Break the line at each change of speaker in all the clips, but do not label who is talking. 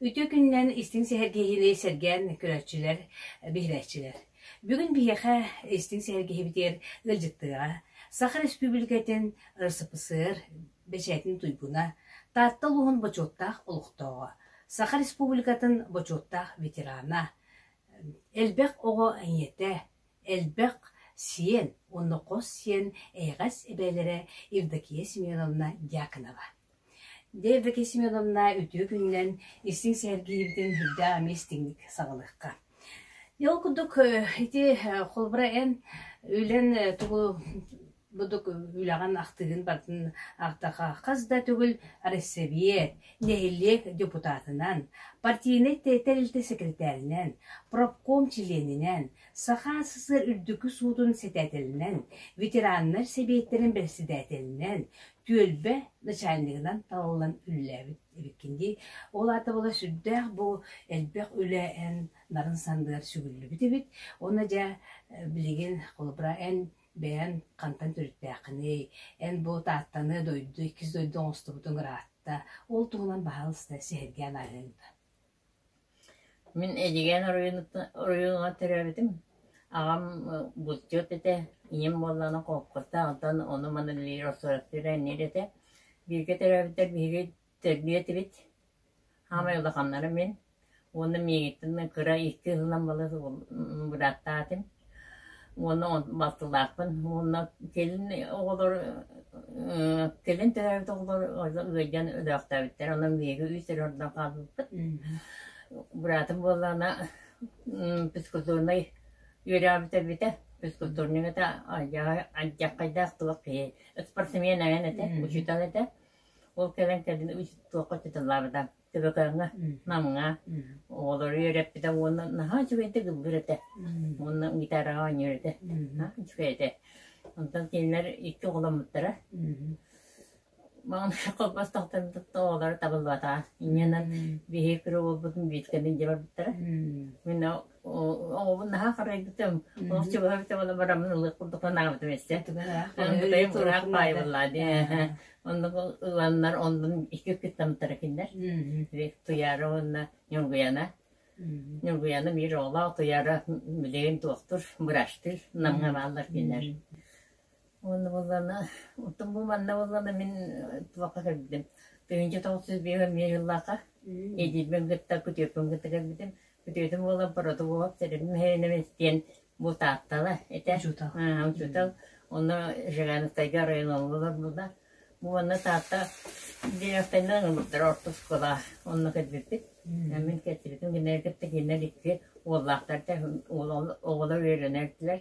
Үтүө күнүнэн истиҥ сэһэргэһиини сэргээн көрөөччүлэр, биһирээччилэр. Бүгүн биһиэхэ истиҥ сэһэргэһибитигэр ыалдьыттыаҕа Саха Республикатын РСПСР бэчээтин туйгуна, Таатта улууһун бочуоттаах олохтооҕо, Саха Республикатын бочуоттаах ветерана, Элбэх оҕо ийэтэ, элбэх сиэн уонна хос сиэн эйэҕэс эбээлэрэ Евдокия Семеновна Дьяконова. Дьэ, Евдокия Семеновна үтүө күнүнэн истиҥ сэһэргиһиибитин үрдээх эмиэ истиҥник саҕалыахха. Ол курдук ити холобура эн үлэн тугу Будук үлэҕин ахтыгын батын ахтаха хас да төгүл Арассабиэ нэһилиэк депутатынан, партийнай тэрилтэ секретаринан, профком чилиэнинэн, Саха СССР Үрдүкү Суутун сэтээтэлинэн, ветераннар сэбиэттэрин бэрэссэдээтэлинэн, түөлбэ начальнигынан талыллан үлэлээбит эбиккин дии. Ол аата була сүрдээх бу элбэх үлэ эн нарын сандыар сүгүллүбүт эбит. Оны дьэ билигин холобура эн Бэйэҥ хантан төрүттээххиний, эн-бу Тааттаны, дойду, иккис дойду оҥостубутуҥ ыраатта, ол туһунан баһаалыста сэһэргээн ааһыаҥ дуо? Мин Эдьигээн оройуонугар төрөөбүтүм. Аҕам бутчут этэ, ийэм буоллаҕына холкуостаах, онтон ону-маны Лира Сураптыыра инниэр этэ. Бииргэ төрөөбүттэр биһиги Тэлбиэ этибит, саамай улаханнара мин уонна миигиттэн кыра икки ыһыллан балыс бырааттаатым уонна балтылаахпын уонна кэлин оҕолор кэлин төрөөбүт оҕолор ыалдьан өлөөхтөөбүттэр онон биһиги үс эрэ ордон хаалбыппыт быраатым буоллаҕына физкультурнай үөрээбит эбитэ физкультурнигата алдьархайдаах туох киһи спортсмен эҥин этэ учуутал этэ Ол кэлэн кэлин туохха ытыталаабыта, төбөкөөҥҥө, намҥа оҕолору үөрэппитэ уонна наһаа үчүгэйдик ыллыыр этэ уонна гитараҕа оонньуур этэ наһаа үчүгэй этэ. Онтон кинилэр икки оҕоломмуттара. Маҕан холбостоохтон тутта оҕолоро табыллыбатаҕа. Инньэнэн биһиги кыра уолбутун бииркэни илдьэ барбыттара. Мин оҕобун наһаа харайбытым олох чугаһабытым оло барамын ылыах курдук санаабытым эссе кытайым ыраах паайбыллаа дии оннук ыланнар оннун икки кыттамтара киндер туяра уонна нюнгуяна нюнгуяна биир оҕолоох туяра билигин туохтур быраштыр намгамааллар киндер уонна боллана оттон бу манна боллана мин туохха көрбүтүм тыһынчы тоҕус жүз биэһэ миэ жыллаха эдирбен кытта күтүөппүн кытта көрбүтүм Үтүөтүн уола Бородугов Теремиһинэмис диэн бу Тааттала этэ. Учуутал. Аа, учуутал. Онно Жигановтайга оройун олорбуттар. Бу уонна Таатта директорынан ылбыттар орто оскуола онно кэлбиппит. Мин кэлбиппин гиннэр кытта гиннэр икки уоллаахтар да оҕолор үөрэнэрдилэр.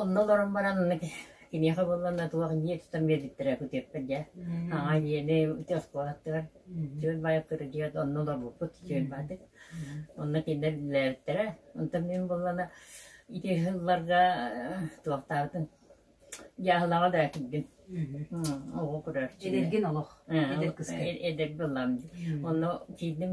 Онно олорон баран киниэхэ буоллаҕына туох дьиэ тутан биэрбиттэрэ күтүөппэр дьэ аҕа дьиэни үтүө оскуолаттыгар Түөл Баайаттар дьиэт онно олорбуппут Түөл Баатык онно кинилэр үлэлээбиттэрэ онтон мин буоллаҕына ити сылларга туохтаабытын дьааһылаҕа да киирдим оҕо көрөөччү эдэргин олох эдэр кыска эдэрги ыллаҕым онно киирдим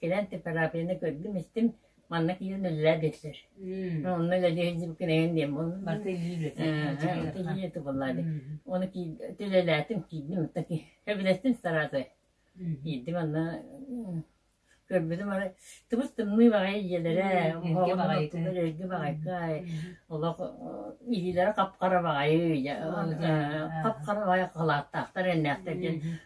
Кэлэн температураны көрдүм-истим, манна киирэн үлэлээ биэрсэр. Онно үлэлии сылдьыбыккын эйэн диэн буолла. Барыта илиилэтэ. Тубаллаады. Оны үлэлээтим, киирдим. Кэбилэстим стараасы. Киирдим анна көрбүтүм ары тыбыс тымныы баҕайы ийэлэрэ олорго баҕайка олох илиилэрэ қапқара баҕайы қапқара баҕайы халааттаахтар эннээхтэр диэн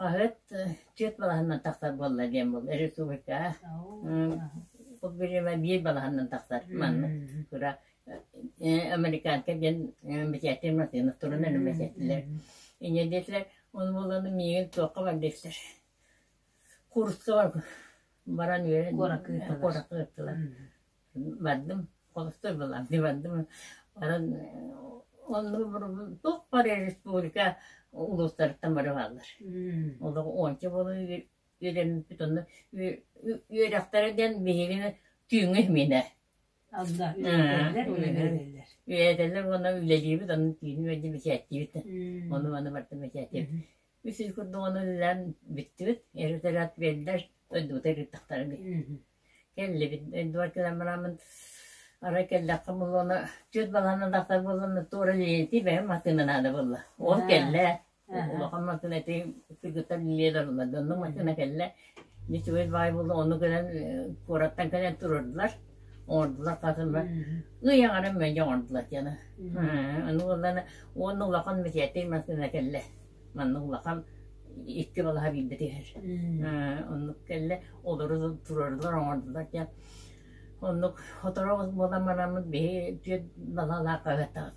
Хаһыат түөрт балаһаннан тахсар буолла диэн буол республика бу бириэмэ биир балаһаннан тахсар маннык кыра американка диэн бэчээттир массыына турунан бэчээттилэр иньэ диэтилэр ол буоланы миигин туохха бар диэхтэр курска баран үөрэн куоракка ыыттылар бардым холусто булам дии бардым баран онно туох бары республика улуустарыттан бары бааллар олох уонча буола үөрэммиппит онно үөрэхтэрэ диэн биһигини түүҥҥү иһминэ үөрэтэллэр уонна үлэлиибит онно түүнү бэчээттиибит ону маны бартан бэчээттиибит Үс ый курдук ону ыллаан бүттүбүт, эргитэрэ отведдэр, дойдубуту эргиттэхтэрэ кэллибит. Эдуард кэлэн бараммын арай кэллэххэ буолла уонна түөрт балаһаны даахтар буоллунна туора Лилиэтэ бэйэм матыыма наада буолла. Уол кэллэ. Улахан матыына ити кыргыттар Лилия да орулла да оннук матыына кэллэ. Нечевой два буолла ону гынан куораттан кэлэн турардылар оҥордулар хатылар ый аҥарын мэлдьи оҥордулар диэни аны буоллана уонна улахан мэтиэтир массыына кэллэ манна улахан икки балаһа биирдэ түһэр оннук кэллэ олору турардылар оҥордулар диэн оннук хоторо буолан бараммыт биһи түөрт балалаах хаһыаттаабыт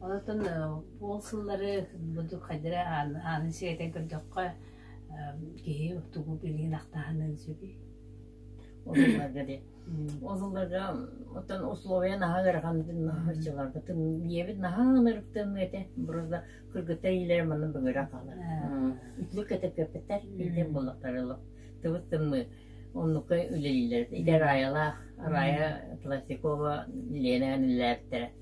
Онтон ол сыллары бу хайдары ааны сиэтэй көрдөххө киһи тугу билигин ахтаһыныан сөбүй? Ол ылларга диэн. Ол ылларга оттон условия наһаа ыараханытын харчыларбытын ийэбит наһаа ынырыктаныа этэ. Просто кыргыта иилэр манна бөҥөрө хаалар. Үтүлүк кэтэппэппэттэр иитэн боллохтар олох. Тыбыт тымны оннукка үлэлиилэр. Идэр аайалаах араайа Пластикова Лена иллээбиттэрэ.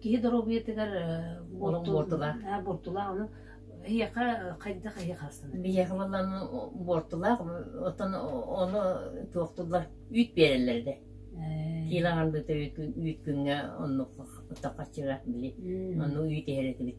Киһи доруобуйатыгар олох буортулаах. Буортулаах ону эһиэхэ хайдах эһиэхэ астынар? Биһиэхэ буоллан буортулаах оттон ону туохтуллар үүт биэрэллэр да. Киилэ аҕалбыта үүт күҥҥэ оннук хаппыттах харчыга били. Ону үүт иһэр этибит.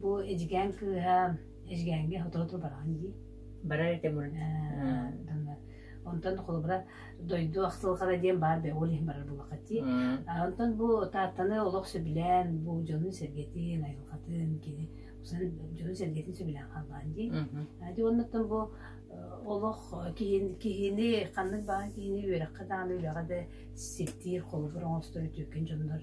Бу эдьигээн кыыһа эдьигээҥҥэ сотору-сотору бараҕын дии. Барар этэ мурун. Онтон холобура дойду ахсылҕара диэн баар да ол иһин барар буоллахха дии. Онтон бу Тааттаны олох сөбүлээн бу дьонун-сэргэтин, айылҕатын кини дьонун-сэргэтин сөбүлээн хааллаан дии. Ди оннуттан бу олох киһини киһини ханнык баҕа киһини үөрэххэ даҕаны үрэҕэ да ситтиир холобур оҥостор үтүөкэн дьоннор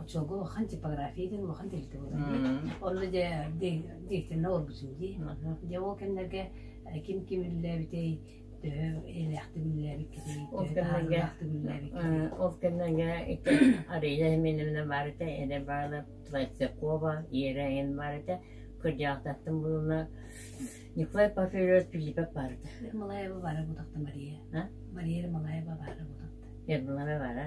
оччого хан типография диэн улахан тэрилтэ буолар онно дьэ директорына олорбутун дии дьэ ол кэмнэргэ ким ким үллээбитэй төһө элээхтик үллээбиккитий ол кэмнэргэ ол кэмнэргэ ити ария хименевна барыта эрэ баала Твойцакова иераин барыта кырдьаахтаттым булуна Николай Пафелевич Филиппов барыта Малаева бара бутахта Мария Мария Малаева бара бутахта Ермолаева бара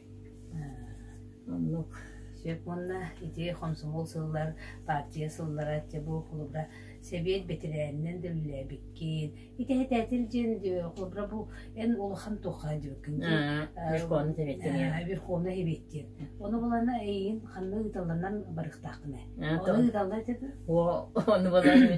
Оннук сөп уонна ити хомсомуол сыллар партия сыллара чэ бу холобура сэбиэт бэтэрээнинэн да үлэлээбиккин итэһэтээтил диэн холобура бу эн улахан туха диэбиккин верховность эбиттиҥ верховность эбиттиин ону булана эйиин ханна ыыталланан барыктааххына ону ыыталла этэ ону булан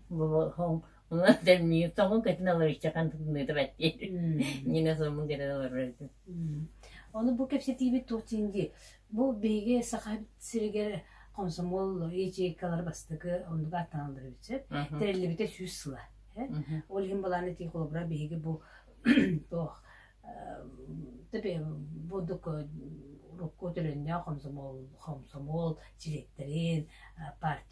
Ону бу кэпсэтиибит туох диин дии бу биһиги саха сиригэр комсомол ячейкалар бастакы оннуга аттаналлар эбит сөп тэриллибитэ сүүс сыла ол иһин балааны тии холобура биһиги бу туох тепе будук урукку төлөннөөх комсомол комсомол директорин партия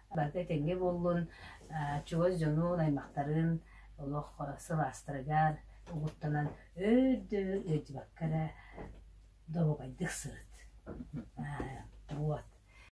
Барыта итинник буоллун, чугас дьонун, аймактарын олох сылаастарыгар угуттанан өйдөбүл ыйдыбакка эрэ добугайдык сырыт. Вот.